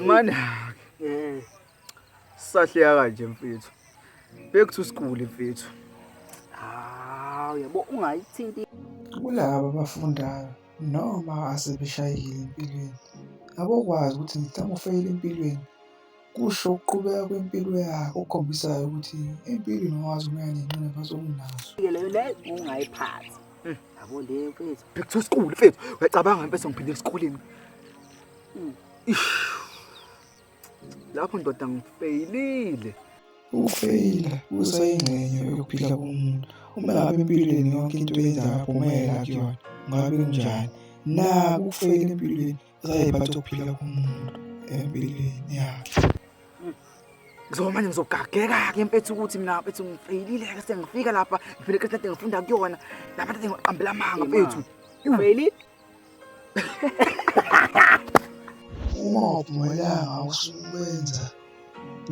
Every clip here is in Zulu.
mani eh. sahleka kanje mfethu back to school mfethu hawu yabo ungayithinti kulabo abafundayo Noma asebeshayekile empilweni, abokwazi ukuthi ngithanda ukufeyila empilweni, kusho ukuqhubeka kwempilo yakhe okukhombisayo ukuthi empilweni wawazi umoya nenqinamba zokunazo. Leyo le ungayiphathi. Hmm. Yabo le mfethu. Back to school mfethu. Uyacabanga impela sengiphindele esikoleni. Hmm. Ish. lapho ndoda ngifeyilile ukufeyila kusayingxenye yokuphila komuntu uma ngabe empilweni yonke into eyenzayo aphumela kuyona ngabe kunjani na ukufeyila empilweni usayiphatha ukuphila komuntu empilweni yakhe ngizoba manje ngizogageka-ke empethi ukuthi mina mfethu ngifeyilile-ke sengifika lapha ngifile kade ngifunda kuyona lapha kade ngiqambela amanga mfethu ufeyilile Uma uphumelanga usukwenza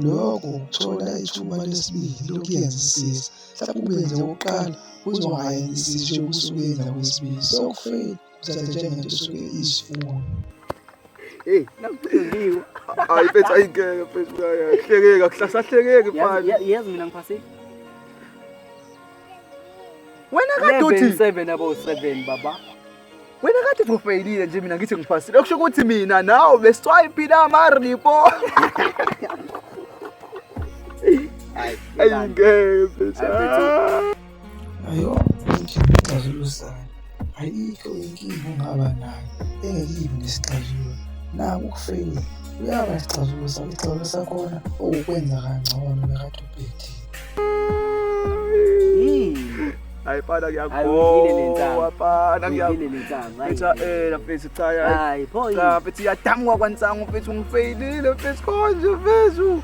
lokho ukuthola ithuba lesibili lokuyenza isiza mhlawumbe ubenze okokuqala uzwa ngayengisisho yokusukenza kwesibili so kufeyile kuthatha njengento esuke iyisifundo Hey, nakucingiwe. Hayi mfethu ayingeke mfethu uyahlekeka, kuhlasahlekeke mfana. Yazi mina ngiphasile. Wena kade uthi 7 abo 7 baba. Wena kade uthi ufeyilile nje mina ngithi ngipasile. Okusho ukuthi mina nawe beswipe la ma report. Ay, ay ngeke. Ayo, ngicela usana. ayikho inkinga ongaba nayo engekibi nesixazululo naku ukufeyila uyaba isixazululo sakho isixazululo sakhona okukwenza kangcono nakade ubhethile Hayi fana ngiyakhowa fana ngiyakhowa ela mfethu cha yayi cha mfethu iyadamuka kwansangu mfethu ngifeyilile mfethu konje mfethu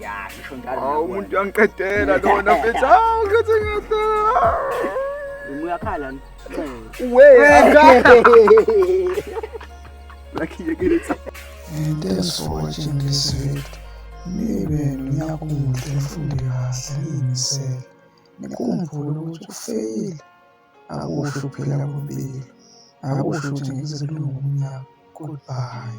ya ngisho njalo awu umuntu uyangiqedela lona mfethu awu ngithi ngiyadla uyakhala uwe And thanks for watching this video. Nibe nyakuhle mfundi kahle ngiyimisele. Nikhumbule ukuthi ukufeyila akusho ukuphila kwempilo. Akusho ukuthi ngeke kulunge umnyaka. Goodbye.